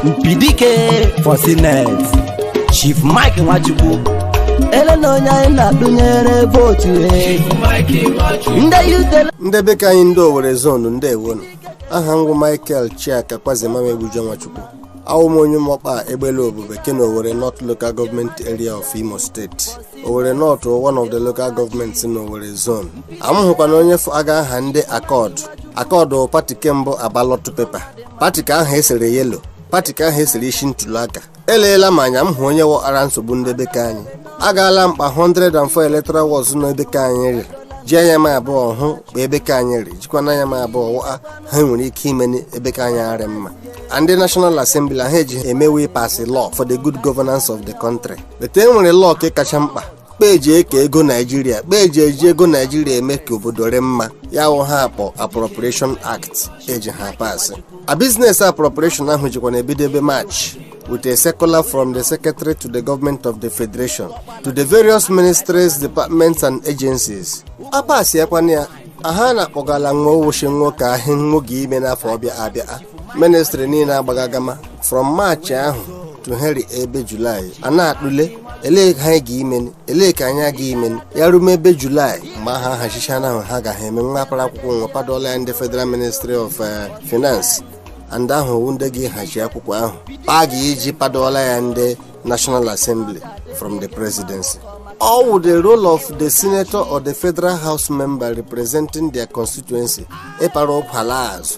mpidike for senate chief mike nwachukwu ele na onye anyị na-atụnyere vootu e. ndị yutele ndị be ka anyị ndị owere zonu ndeewo nu aha m wụ michael chika kwazemam egbujo nwachukwu awụ m onye ụmụọkpa egbelu obube ke na owere north local government area of imo steeti owere north wụ one of the local governments na owere zone amụhụkwana onye fụ aga aha ndị accord accord wụ pati ke mbụ na ballot paper pati ke ahụ esere yelo pati ke ahụ esere isi ntụliaka eleela m anya m hụ onye wụgara nsogbu ndị be ka anyị agaala m kpa 104 electoral wards nọ ebe ka anyị rịrị ji anya m abụọ hụ kpa ebe ka anyị rị jikwana anya m abụọ hụ he e nwere ike ime ebe ka anyị arị mma and the national assembly he eji eme wụ ịpasị law for the good governance of the country but e nwere law ke kacha mkpa kpa eji eke ego naijiria kpa eji eji ego naijiria eme ka obodo rị mma ya wụ he a kpọ appropriation act eji ha pasị a business appropriation ahụ jikwana ebido ebe march with a circular from the secretary to the government of the federation to the various ministries departments and agencies apasị akwana ya aha na-akpọgala nwo ọ wụ shị nwo kaa he nwo ga-ime n'afọ ọbịa abịa ministri niile agbaga agama from maachị ahụ to he rị ebe julaị a na-atụle elee ka anyị ga-imeni elee ka anyị ga-imeni ya rume ebe julaị mgbe a hachichana he ha ga-eme nwo apara akwụkwọ nwo padola ya ndị federal ministry of eh, finance a ndị ahụ wụ ndị ga-ihachi akwụkwọ ahụ kpa a ga-eji padola ya ndị national assembly from the presidency ọ wụ the role of the senator or the federal house member representing their constituency ịpara ụkwala azụ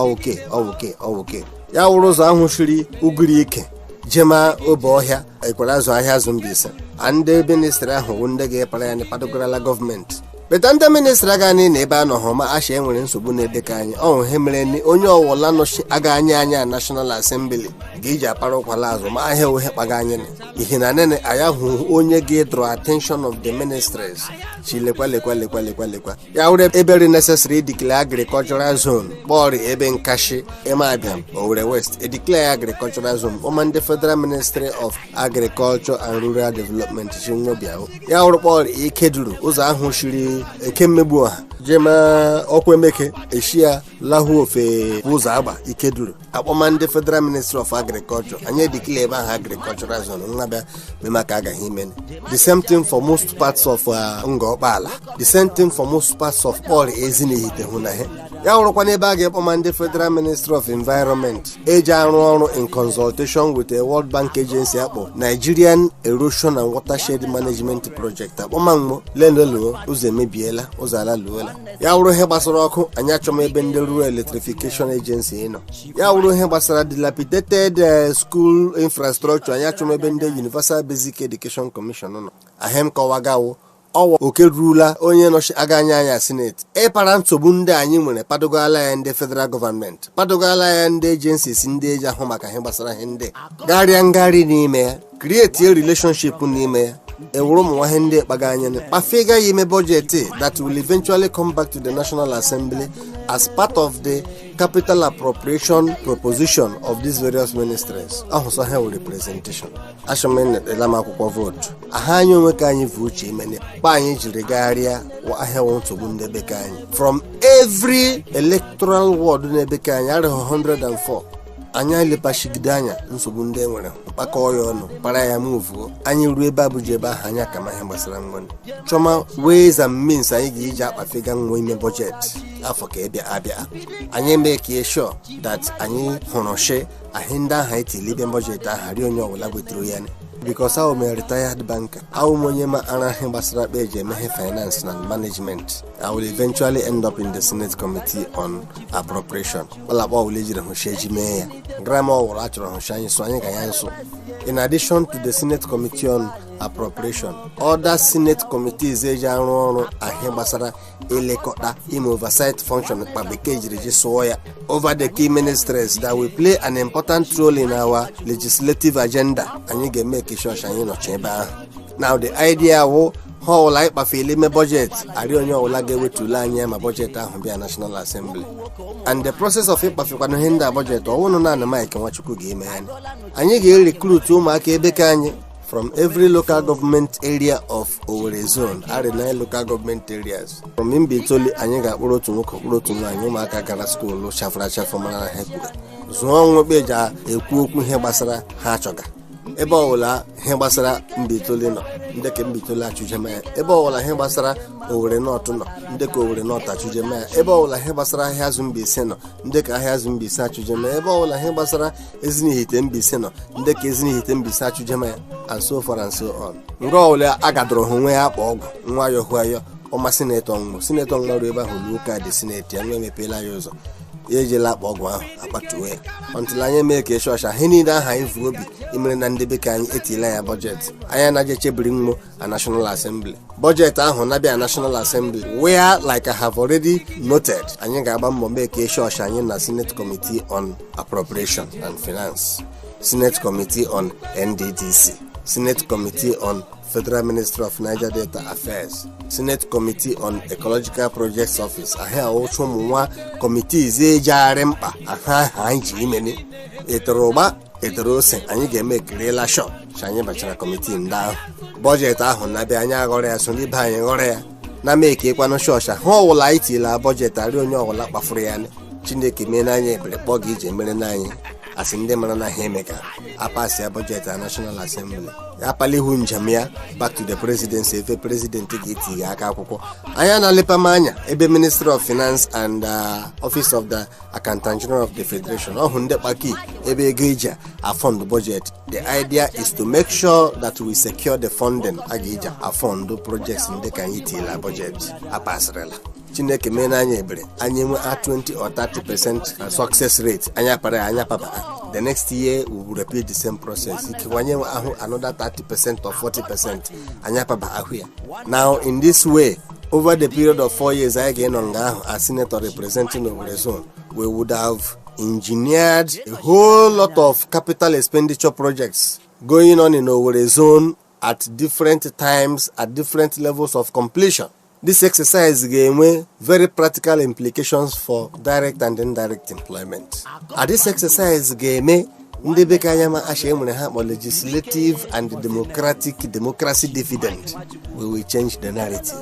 ọwụke ọwụke ọwụke ya wụrụ ụzọ ahụ shiri ugiri ike jema obohia ekwerazu ahiazu mbaise a ndị ministri ahụ wụ ndị ga-apara ya padogarala gọọmenti but ndị ministri agaghị anọ ebe ha nọ hụ ma asha enwere nsogbu n'ebe ka anyị ọ wụ he mere ni onye ọwụla nọchiaga anyị anya na nashọnal asembli ga-eji apara ụkwala azụ mahịa he kpaga anyị nị. ihi na nene anyị ahụ onye ga-edrọ attention of the ministries shị lekwa lekwa lekwa lekwa lekwa ya wụrụ ebe rị necessary declare agricultural zone kpọrị ebe nkashi emeabiam owere west edeclare agricultural zone kpọma ndị federal ministry of agriculture and rural development shị nwo bịa hụ ya wụrụ kpọrị ikeduru ụzọ ahụ shiri ekemmegbuọha jema okwu emeke eshia lahu ofe ụzọagba ikeduru akpọma ndị federal ministry of agriculture anyị edeclare ebe ahụ agricultural zone nwo abịa mema ka a ga-ime the same thing for most parts of uh, ngor okpala the same thing for most parts of all ezinihite hụ na he ya wụrụkwa n'ebe a ga-akpọma ndị federal ministry of environment eji arụ ọrụ in consultation with a world bank agency akpọ nigerian erosion and watershed management project akpọma nwo leneluo ụzọ emebiela ụzọ alaluola ya wụrụ ihe gbasara ọkụ anyị achọma ebe ndị rural electrification agency nọ ya wụrụ ihe gbasara dilapidated eh, school infrastructure anyị achọma ebe ndị universal basic education commission nọ ahe m kọwagawo ọ wụ oke rurula onye nọchiga anya anyị sineti ịpara nsogbu ndị anyị nwere padogala ya ndị federal gọọmenti padogala ya ndị agencies ndị eji ahụ maka ihe gbasara ihe ndị garịa ngarị n'ime ya create a relationship n'ime ya ewuru ụmụ nwa ihe ndị kpaga anyị kpafega ya ime bọjetị that will eventually come back to the national assembly as part of the capital appropriation proposition of these various ministries ahụsọ ha were representation achọmnetela m akwụkwọ vootu aha anyị onwe ka anyị vu uche imene kpa anyị jiri gagharịa wa ahị wụ nsogbu ndị be ka anyị from every electoral ward n'ebe ka anyị arịghị 104 anyị elepachigide anya nsogbu ndị e nwere kpakọọ ya ọnụ para ya muvuo anyị ruo ebe abuja ebe ahụ anyị akama ihe gbasara nwa chọma ways and means anyị ga-eji akpafega nwa ime bọjetị afọ ka ịbịa abịa anyị make sure that anyị hụrụ shi ahị ndị ahụ anyị tiri ime bọjetị ahụ arị onye ọbụla weturu ya because a wụ m retired banker a wụ m onye maara ihe gbasara kpa eji eme ihe finance na management i will eventually end up in the senate committee on appropriation kpalakpa ọbụla ejiri hụ shi eji mee ya grama ọ wụrụ a chọrọ hụ shi anyị so anyị ka ya nso in addition to the senate committee on appropriation other senate committees eji arụ ọrụ ahị gbasara ilekọta ime oversight function kpa bekee jiri ji sụọ ya over the key ministries that will play an important role in our legislative agenda anyị ga-emek sure shi anyị nọchi ebe ahụ na the idea wụ ha ọwụla anyị kpafeli ime bọjetị arị onye ọwụla ga-ewetule anyị ma bọjetị ahụ bịa national assembly and the process of ịkpafekwana ihe ndị a bọjetị ọ wụnụ naanị mike nwachukwu ga-eme ya anyị ga-erekrut ụmụaka ebe ka anyị from every local government area of Owerri zone arị nine local government areas from Mbaitoli anyị ga-akpụrụ otu nwoke kpụrụ otu nwaanyị ụmụaka gara skuulu chafụrụ achafụ mara na ha kpụrụ zụọ nwa kpa eji ekwu okwu ihe gbasara ha achọga ebe ọbụla ihe gbasara mbaitoli nọ ndị ka mbaitoli achụjema ya ebe ọbụla ihe gbasara owerri north nọ ndị ka owerri north achụjema ya ebe ọbụla ihe gbasara ahiazu mbaise nọ ndị ka ahiazu mbaise achụjema ya ebe ọbụla ihe gbasara ezinihite mbaise nọ ndị ka ezinihite mbaise achụjema ya and so far and so on nga ọbụla agadoro ha onwe ya akpa ọgwụ nwa yọhụ ayọ ọma sinetọ nwa sinetọ nwa ruo ebe ahụ luo kaadị sineti ya nwa emepeela ya ụzọ ya ejela akpa ọgwụ ahụ akpatuwe ya until anyị make sure shi ihe niile aha anyị vu obi imere na ndị be ka anyị etila ya bọjetị anyị anaje chebiri mmo a national assembly bọjetị ahụ na-abịa na national assembly where like i have already noted anyị ga-agba mbọ make sure shi anyị na senate committee on appropriation and finance senate committee on nddc senate committee on Federal Ministry of Niger Delta Affairs, Senate Committee on Ecological Projects Office, ahị a wụcha ụmụ nwa committees ejegharị mkpa aha aha anyị ji imene etere ụgba etere ose anyị ga-emekirila sure ka anyị bachara kọmitii ndị ahụ bọjetị ahụ na-abịa anyị aghọrọ ya soro ibe anyị ghọrọ ya na-emekekwanụ sure shị ahị ọwụla anyị tila bọjetị arị onye ọwụla kpafuru ya chineke mee na anyị ebere kpa ọ ga-eji mere na anyị asị ndị mara na ha eme ka apasịa bọjetị na National Assembly ya palihu njem ya back to the presidency ebe prezidenti ga-etiga aka akwụkwọ anyị na-alepa m anya ebe ministry of finance and uh, office of the accountant general of the federation ọ wụ ndị kpa key ebe ego eji afund budget the idea is to make sure that we secure the funding a ga-eji afund projects ndị ka anyị tila budget apasịrịla chineke mee na anyị ebere anyị enwee 20 or 30 percent uh, success rate anyị akpara ya anyị akpaba the next year we will repeat the same process ikewanye ahụ another 30 percent or 40 percent anyị akpaba ahụ ya now in this way over the period of four years anyị ga-enọ nga ahụ as senator representing Owerri zone we would have engineered a whole lot of capital expenditure projects going on in Owerri zone at different times at different levels of completion this exercise ga-enwe very practical implications for direct and indirect employment this exercise ga-eme ndị be ke anyị ama shị enwere ha kpọ legislative and democratic democracy dividend we will change the narrative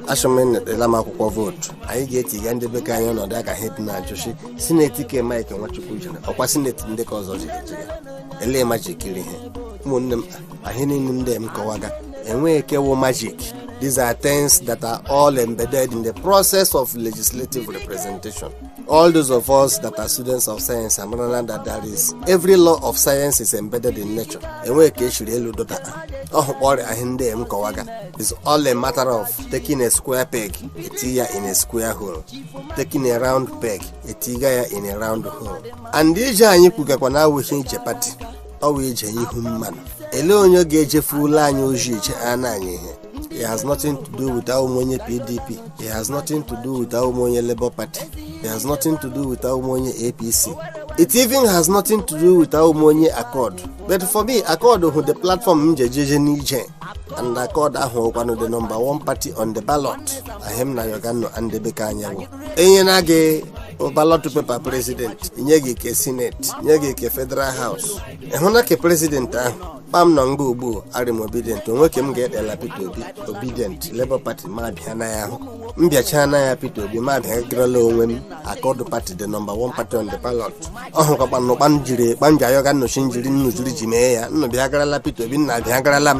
asị nnụ etiela m akwụkwọ vootu anyị ga-etiga ndị be ke anyị ọnọdụ nga ha dị na-ajụ shị sineti ke mike nwachukwu jere ọkwa sineti ndị ke ọzọ jere jiri elee majik iri ihe ụmụnne m ahị a niile ndị m kọwaga enweghị ke wụ majik these are things that are all embedded in the process of legislative representation all those of us that are students of science amara na that there is every law of science is embedded in nature enweghị ke eshiri elu dota ọ wụ kpa ọ rị ahị a ndị m kọwaga is all a matter of taking a square peg etiga ya in a square hole taking a round peg etiga ya in a round hole and ije anyị kwugakwa na awụghị ije pati ọ wụ ije ihu mmanụ elee onye ga-ejefuola anyị ozi iche a na anyị ihe it has nothing to do with awụ m onye pdp it has nothing to do with awụ m onye labour party it has nothing to do with awụ m onye apc it even has nothing to do with awụ m onye accord but for me accord wụ the platform m ji ejeje n'ije and accord a wụkwanụ the number one party on the ballot ahị m na-ayọga nnụ a ndị be ke anyị wụ enye na gị ballot paper president nye gị ke senate nye gị ke federal house ịhụ na ke president ahụ kpa m nọ nga ugbu arị m obidient onwe ke m ga-etiela peter obi obidient labour party ma bịa na ya ahụ m bịachaa na ya peter obi ma bịa garala onwe m accord party the number one party on the ballot ọ wụkwa kpanụ kpa m jiri kpa m ji ayọga nnụ shị njiri nnụ jiri ji mee ya nnụ bịa garala peter obi nnụ abịa garala m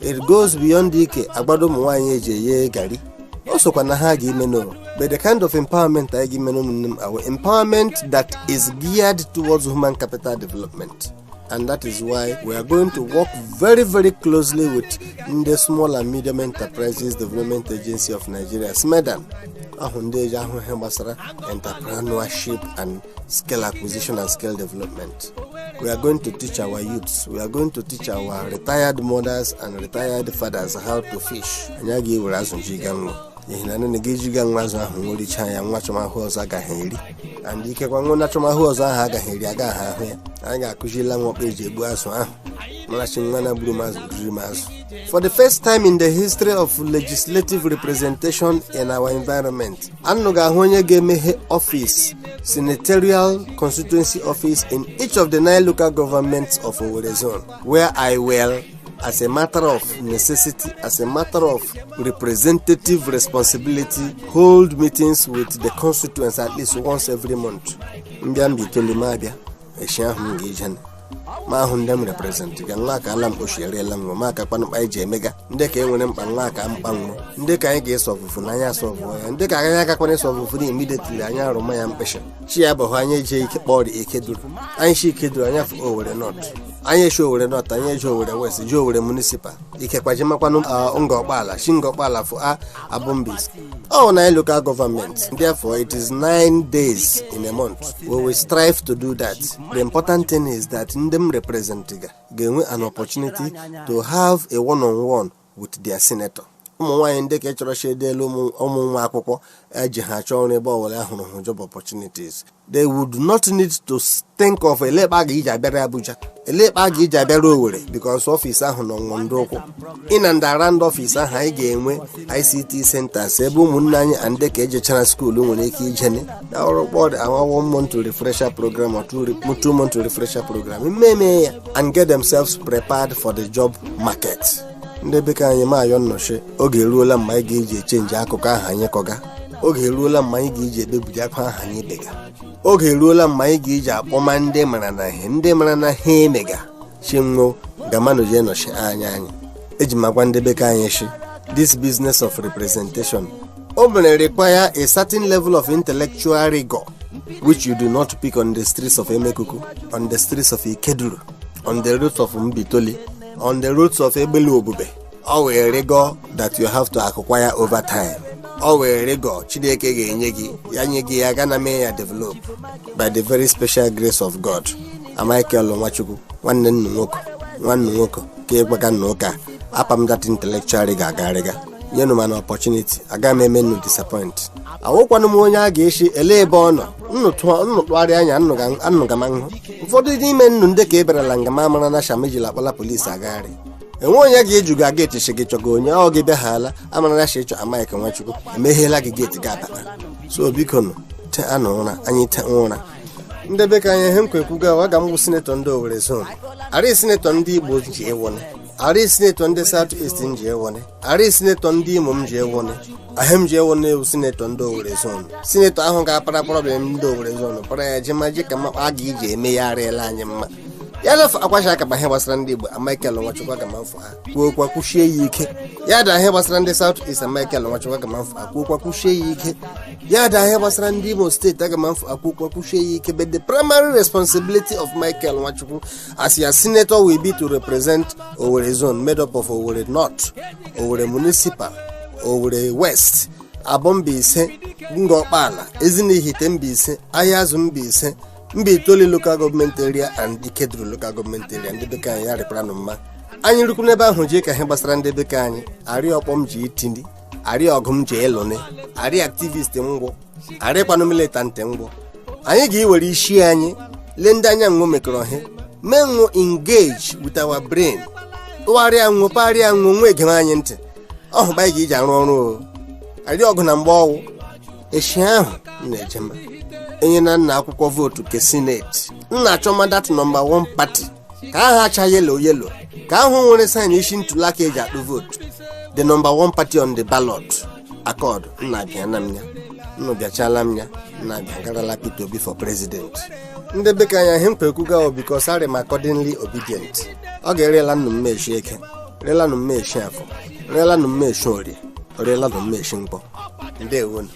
it goes beyond ike agbado ụmụ nwaanyị eji eye gari o sokwa n'ihe a ga-ime no but the kind of empowerment anyị ga-eme n'ụmụnne m awụ empowerment that is geared towards human capital development and that is why we are going to work very very closely with ndị small and medium enterprises development agency of nigeria smedan ọ wụ ndị eji ahụ ihe gbasara entrepreneurship and skill acquisition and skill development. We are going to teach our youths, we are going to teach our retired mothers and retired fathers how to fish. Anyị agaghị ewere azụ jiga nwa n'ihi na nne gị ejiga nwa azụ ahụ nwa ericha ya nwa achọma ihe ọzọ ha ga-eri and ikekwa nwa achọma ihe ọzọ ahụ ha ga-eri agaghị ahụ ya anyị ga-akụzirila nwọ kpa eji egbu azụ ahụ mara shi nwa na gburu m azụ riri m azụ for the first time in the history of legislative representation in our environment anụ ga-ahụ onye ga-emeghe ọfịs senatorial constituency office in each of the nine local governments of Owerri zone where I will as a matter of necessity as a matter of representative responsibility hold meetings with the constituents at least once every month m bịa mbaitoli m abịa echi ahụ m ga-eje ma ahụ ndị m represent ga nwa ka ala mgbochi eriela nwa ma aka kpanụkpa anyị ji emega ndị ka e nwere mkpa nwa akaa mkpa nwa ndị ka anyị ga-asolvefụna anyị asolve ya ndị ka anyị agakwana isolvefụna immediately anyị arụma ya mkpịsị chi abọọ anyị eje ike kpọrọ ikeduru anyị shi ikeduru anyị afụ owere north anyị eshi owere north anyị ejee owere west jee owere municipal ikekwa jemakwanụ ngor okpala shi ngor okpala fụ aboh mbaise all nine local government therefore it is nine days in a month we will strive to do that the important thing is that ndị m represent ga ga-enwe an opportunity to have a one on one with their senator ụmụ nwaanyị ndị ka chọrọ shi e deelụ ụmụ nwa akwụkwọ eji ha chọọ ọrụ ebe ọwụla ahụrụ hụ job opportunities they would not need to think of elekpa ga iji abịara abuja elekpa ga iji abịara owere because ọfịs ahụ nọ nwọ n'ọdụ ụkwụ in and around ọfịs ahụ anyị ga-enwe ICT centers ebe ụmụnne anyị ndị ka ejechara school nwere ike ijene na ọ wụkpọdị a one month refresher program or two re- two month refresher program mmeme ya and get themselves prepared for the job market ndị be ka anyị m ayọ unu shi oge eruola mma anyị ga-eji echange akụkọ ahụ anyị kọga oge eruola mma anyị ga-eji ebebiri akwa ahụ anyị bega oge eruola mma anyị ga-eji akpọma ndị mara na ihe ndị mara na ihe emega shi nwo gamanụ jee nọchi anya anyị eji m agwa ndị be ka anyị shi this business of representation o mere require a certain level of intellectual rigor which you do not pick on the streets of emekuku on the streets of ikeduru on the roads of mbaitoli on the roads of egbelu obube ọ wụ rigor that you have to acquire over time ọ wụ rigor chineke ga-enye gị ya nye gị ya gana mee ya develop by the very special grace of god mike nwachukwu nwanne nna nwoke nwanne nwoke ka ịgbaga nna ụka apa m that intellectual rigor agagharị nyenụ m an opportunity aga m eme nnụ disappoint awụkwanụ m onye a ga-echi ele ebe ọ nọ nnụ tụọ- nnụ tụgharịa anya nnụ ga- nnụ aga m ahụ ụfọdụ n'ime nnụ ndị ka eberela nga m mara na sham ejila akpala polisi agagharị enwe onye ga-ajụ gị na geeti sị gị chọga onye ọ gị bịahala amara na sị ịchọ michael nwachukwu emeheela gị geeti gị abata so bikonụ teanụ ụra anyị te ụra ndị be ka anyị ihe m kpa ekwuga wụ aga m wụ sinetọ ndị owerri zon arị sinetọ ndị igbo m je-awụni arị sinetọ ndị south east m je-awụni Arị sinetọ ndị Imo m je-awụni ihe m je-awụni wụ sinetọ ndị Owerri zon sinetọ ahụ ga-apara problem ndị Owerri zon para ya jema ji ka ma kpa a ga-eji eme ya arịla anyị mma ya lafụ akwacha aka ma ihe gbasara ndị Igbo Michael Nwachukwu aga ma mfụ ha kwuo okwu kwushie ya ike ya daa ihe gbasara ndị South East Michael Nwachukwu aga ma mfụ ha kwuo okwu kwushie ya ike ya daa ihe gbasara ndị Imo steeti aga ma mfụ kwuo okwu kwushie ya ike but the primary responsibility of Michael Nwachukwu as your senator will be to represent Owerri zone made up of Owerri North, Owerri Municipal, Owerri West, Aboh Mbaise Ngor Okpala Ezinihitte Mbaise Ahiazu Mbaise Mbaitoli local government area and Ikeduru local government area ndị be ke anyị ya rịkwara nụ mma anyị rukwu n'ebe ahụ jee ka ihe gbasara ndị be ke anyị arị ọkpọ m ji iti ndị arị ọgụ m je-alụni arị activist m wụ arịkwanụ militant m wụ anyị ga-ewere isi anyị lee ndị anyị na nwụ mekọrọ ihe mee nwụ engage with our brain tụgharịa nwụ parịa nwụ nwụ egewe anyị ntị ọ wụ kpa anyị ga-eji arụ ọrụ o arị ọgụ na mgba ọ wụ eshi ahụ nna ejema e nyena nna akwụkwọ vootu ke sineti nna achọma that nọmba 1 pati ka ahụ acha yelo yelo ka ahụ nwere saịn isi ntụliaka eji akpụ vootu the number one party on the ballot Accord nna bịa na m ya nnụ bịachala m ya nna bịa garala Peter Obi for president ndị be ka anyị ihe m kpa ekwuga wụ because arị m accordingly Obidient ọ ga-arịla nnụ mma eshi eke rịla nụ mma eshi afọ rịla nụ mma eshi orie rịla nụ mma eshi nkwọ ndewonụ